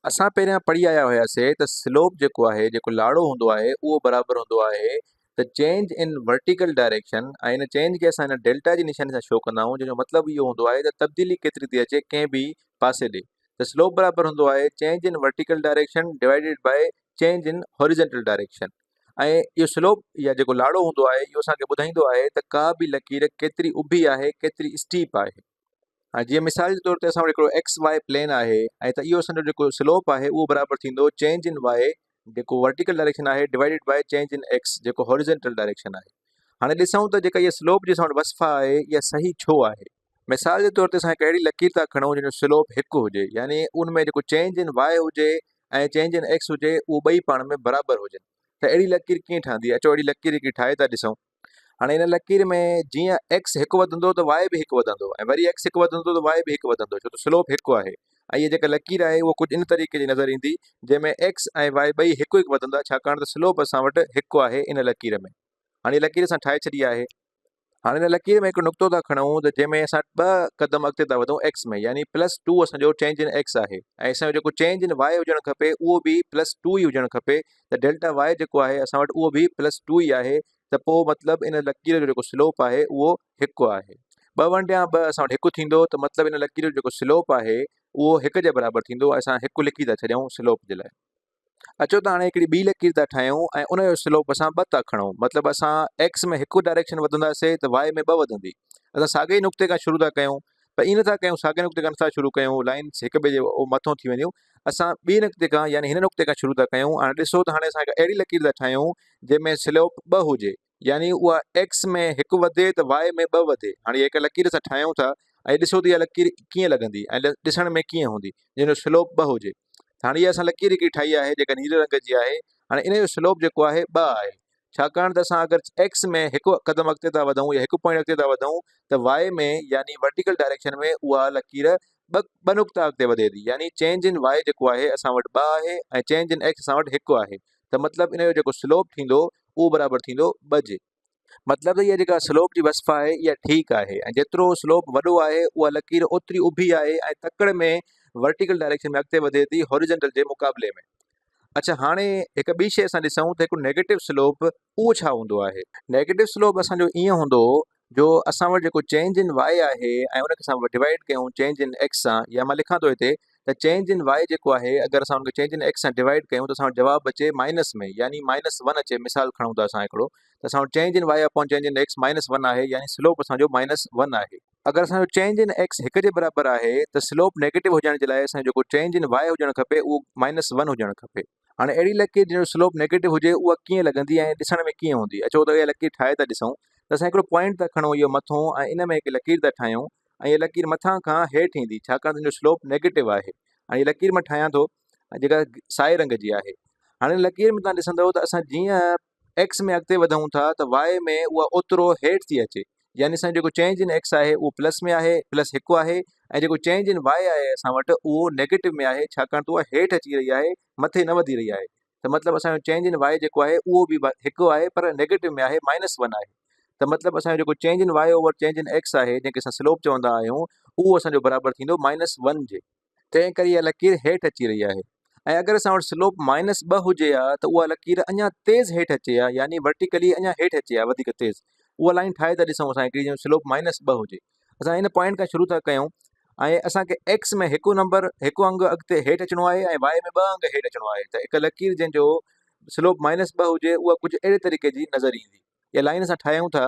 اسان پهريان پڙهي آيا هياسين ته سلوپ جيڪو آهي جيڪو لاڙو هوندو آهي اهو برابر هوندو آهي ته چينج ان ورٽيڪل ڊائريڪشن ۽ ان چينج کي اسان هن ڊيلٽا جي نشاني سان شو ڪندا آهيون جنهن جو مطلب اهو هوندو آهي ته تبديلي ڪيتري ٿي اچي ڪنهن به پاسي ڏي ته سلوپ برابر هوندو آهي change in vertical direction divided by change in horizontal direction ۽ اهو سلوپ يا جيڪو لاڙو هوندو آهي اهو اسان کي ٻڌائيندو آهي ته ڪا به لڪير ڪيتري اڀي آهي ڪيتري اسٽيپ آهي هاڻي جيئن مثال جي طور تي اسان وٽ هڪڙو ايڪس واء پلين آهي ۽ ته اهو اسان جو جيڪو سلوپ آهي اهو برابر ٿيندو چينج ان واء جيڪو ورٽيڪل ڊائريڪشن آهي divided by change in X جيڪو هاريزنٽل ڊائريڪشن آهي هاڻي ڏسون ته جيڪا اها سلوپ جي اسان وٽ وصف آهي اها صحيح ڇو آهي مثال جي طور تي اسان هڪ اهڙي لڪير ٿا کڻون جن جو سلوپ هڪ هجي يعني ان ۾ جيڪو چينج ان واء هجي ۽ چينج ان ايڪس هجي اهو ٻئي پاڻ ۾ برابر هجن ته اهڙي لڪير ڪيئن ٺهندي اچو اهڙي لڪير هڪڙي ٺاهي ٿا ڏسون هاڻي ان لڪير ۾ جيئن ايڪس هڪ وڌندو ته واء به هڪ وڌندو ۽ وري ايڪس هڪ وڌندو ته واء به هڪ وڌندو ڇو ته سلوپ هڪ آهي ۽ هي جيڪا لڪير آهي اها ڪجهه ان طريقي جي نظر ايندي جنهن ۾ ايڪس ۽ واء ٻئي هڪ هڪ وڌندا ڇاڪاڻ ته سلوپ اسان وٽ هڪ آهي ان لڪير ۾ هاڻي لڪير اسان ٺاهي ڇڏي آهي هاڻي ان لڪير ۾ هڪ نقطو ٿا کڻون ته جنهن ۾ اسان ٻه قدم اڳتي ٿا وڌون ايڪس ۾ يعني پلس ٽو اسان جو چينج ان ايڪس آهي ۽ اسان جو جيڪو چينج ان واء هجڻ کپي اهو به پلس ٽو ئي هجڻ کپي ته ڊيلٽا واء جيڪو آهي اسان وٽ اهو به پلس ٽو ئي آهي ته پوء مطلب ان لڪير جو جيڪو سلوپ آهي اهو هڪ آهي ٻه ونڊيان ٻه اسان وٽ هڪ ٿيندو ته مطلب ان لڪير جو جيڪو سلوپ آهي اهو هڪ جي برابر ٿيندو اسان هڪ لکي ٿا ڇڏيون سلوپ جي لاء اچو ته هاڻي هڪڙي ٻي لڪير ٿا ٺاهيون ۽ ان جو سلوپ اسان ٻه ٿا کڻو مطلب اسان ايڪس ۾ هڪ ڊائريڪشن وڌنداسي ته واء ۾ ٻه وڌندي اسان ساڳي ئي نقطي کان شروع ٿا ڪيون پر ائين نٿا ڪيون ساڳئي نقطي کان نٿا شروع ڪيون لائنس هڪ ٻئي جي مٿو ٿي وينديون اسان ٻي نقطي کان يعني هن نقطي کان شروع ٿا ڪيون هاڻي ڏسو ته هاڻي اسان هڪ اهڙي لڪير ٿا ٺاهيون جنهن ۾ سلوپ ٻه هجي يعني اها ايڪس ۾ هڪ وڌي ته واء ۾ ٻه وڌي هاڻي اها هڪ لڪير اسان ٺاهيون ٿا ۽ ڏسو ته اها لڪير ڪيئن لڳندي ۽ ڏسڻ ۾ ڪيئن هوندي جنهن جو سلوپ ٻه هجي هاڻي اها اسان لڪير هڪڙي ٺاهي آهي جيڪا نيري رنگ جي آهي هاڻي ان جو سلوپ جيڪو آهي ٻه آهي ڇاڪاڻ ته اسان اگر ايڪس ۾ هڪ قدم اڳتي ٿا وڌون يا هڪ پوائنٽ اڳتي ٿا وڌون ته وائي ۾ يعني ورٽيڪل ڊائريڪشن ۾ اها لڪير ٻه ٻه نقطا اڳتي وڌي ٿي يعني چينج ان وائي جيڪو آهي اسان وٽ ٻه آهي ۽ چينج ان ايڪس اسان وٽ هڪ آهي ته مطلب ان جو جيڪو سلوپ ٿيندو اهو برابر ٿيندو ٻه جي مطلب هيء جيڪا سلوپ جي وصف آهي اها ٺيڪ آهي ۽ جيترو سلوپ وڏو آهي اها لڪير اوتري اڀي آهي ۽ تڪڙ ۾ ورٽيڪل ڊائريڪشن ۾ اڳتي وڌي ٿي هاريزنٽل جي مقابلي ۾ اڇا هاڻي هڪ ٻي شيء اسان ڏسون ته هڪ نيگيٽو سلوپ اهو ڇا هوندو آهي نيگيٽو سلوپ اسان جو ائين هوندو جو اسان وٽ جيڪو چينج ان واء آهي ۽ ان کي اسان ڊوائيڊ ڪيون چينج ان ايڪس سان يا مان لکان ٿو هتي ته چينج ان وائي جيڪو آهي اگر اسان ان کي چينج ان ايڪس سان ڊوائيڊ ڪيون ته اسان وٽ جواب اچي مائنس ۾ يعني مائنس ون اچي مثال کڻون ٿا اسان هڪڙو ته اسان وٽ change in Y upon change in X minus one آهي يعني سلوپ اسان جو مائنس ون آهي. اگر اسان جو چينج ان ايڪس هڪ جي برابر آهي ته سلوپ نيگيٽو هجڻ جي لاء اسان جو جيڪو چينج ان وائي هجڻ کپي اهو مائنس ون هجڻ کپي. هاڻي اهڙي لڪير جنهن جو سلوپ نيگيٽو هجي اها ڪيئن لڳندي ۽ ڏسڻ ۾ ڪيئن هوندي اچو ته اها لڪير ٺاهي ته ڏسون ته اسان هڪڙو پوائنٽ ته کڻون اهو مٿون ۽ ان ۾ هڪ لڪير ته ٺاهيون ۽ اها لڪير مٿان کان هيٺ ايندي ڇاڪاڻ ته ان جو سلوپ نيگيٽو آهي هاڻي هيء لڪير مان ٺاهيان ٿو جيڪا سائي رنگ جي آهي هاڻي ان لڪير ۾ تهان ڏسندو ته اسان جيئن ايڪس ۾ اڳتي وڌون ٿا ته واء ۾ اها اوترو هيٺ ٿي اچي يعني اسان جو جيڪو چينج ان ايڪس آهي اهو پلس ۾ آهي پلس هڪ آهي ۽ جيڪو چينج ان واء آهي اسان وٽ اهو نيگيٽو ۾ آهي ڇاڪاڻ ته اها هيٺ اچي رهي آهي مٿي نه وڌي رهي آهي ته مطلب اسان جو چينج ان واء جيڪو آهي اهو به هڪ آهي پر نيگيٽو ۾ آهي مائنس ون آهي ته مطلب اسان جو جيڪو change in Y over change in X آهي جنهن کي اسان سلوپ چوندا آهيون اهو اسان جو برابر ٿيندو مائنس ون جي تنهن ڪري اها لڪير هيٺ اچي رهي آهي ۽ اگر اسان وٽ سلوپ مائنس ٻه هجي ها ته اها لڪير اڃا تيز هيٺ اچي ها يعني ورٽيڪلي اڃا هيٺ اچي ها وڌيڪ تيز اها لائين ٺاهي ٿا ڏسون اسان هڪڙي جنهن سلوپ مائنس ٻه هجي اسان ان پوائنٽ کان شروع ٿا ڪيون ۽ اسان کي ايڪس ۾ هڪ نمبر هڪ انگ اڳتي هيٺ اچڻو آهي ۽ واء ۾ ٻه انگ هيٺ اچڻو آهي ته هڪ لڪير جنهن جو سلوپ مائنس ٻه هجي اها ڪجهه اهڙي طريقي جي نظر ايندي اها لائين اسان ٺاهيون ٿا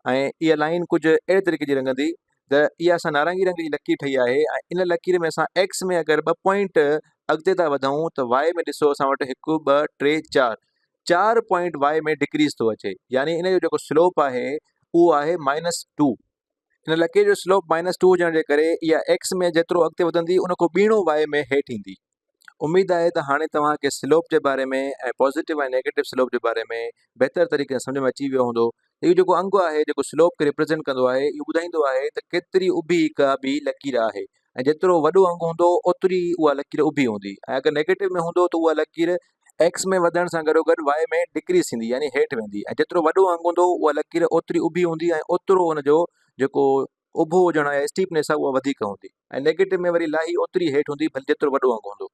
۽ اها لائين ڪجهه اهڙي طريقي جي رڱندي ته اها اسان نارنگي رنگ جي لڪير ٺهي آهي ۽ ان لڪير ۾ اسان ايڪس ۾ اگر ٻه پوائنٽ اڳتي ٿا وڌون ته واء ۾ ڏسو اسان وٽ هڪ ٻه ٽي چار چار پوائنٽ واء ۾ ڊڪريز ٿو اچي يعني ان جو جيڪو سلوپ آهي اهو آهي مائنس ٽو هن لڪير جو سلوپ مائنس ٽو هجڻ جي ڪري اها ايڪس ۾ جيترو اڳتي وڌندي ان کان ٻيڻو واء ۾ هيٺ ايندي. اميد آهي ته هاڻي توهان کي سلوپ جي باري ۾ ۽ پازيٽو ۽ نيگيٽو سلوپ جي باري ۾ بهتر طريقي سان سمجهه ۾ اچي ويو هوندو ته اهو جيڪو انگ آهي جيڪو سلوپ کي ريپريزينٽ ڪندو آهي اهو ٻڌائيندو آهي ته ڪيتري اڀي ڪابه لڪير آهي ۽ جيترو وڏو انگ هوندو اوتري ئي اها لڪير اڀي هوندي ۽ اگر نيگيٽو ۾ هوندو ته اها لڪير ايڪس ۾ وڌڻ سان گڏوگڏ واء ۾ ڊڪريز ٿيندي يعني هيٺ ويندي ۽ جيترو وڏو انگ هوندو اها لڪير اوتري اڀي هوندي ۽ اوترو ان جو جيڪو اڀو هجڻ يا اسٽيپنيس آهي اها وڌيڪ هوندي ۽ نيگيٽو ۾ وري لاهي اوتري هيٺ هوندي ڀلي جيترو وڏو انگ هوندو.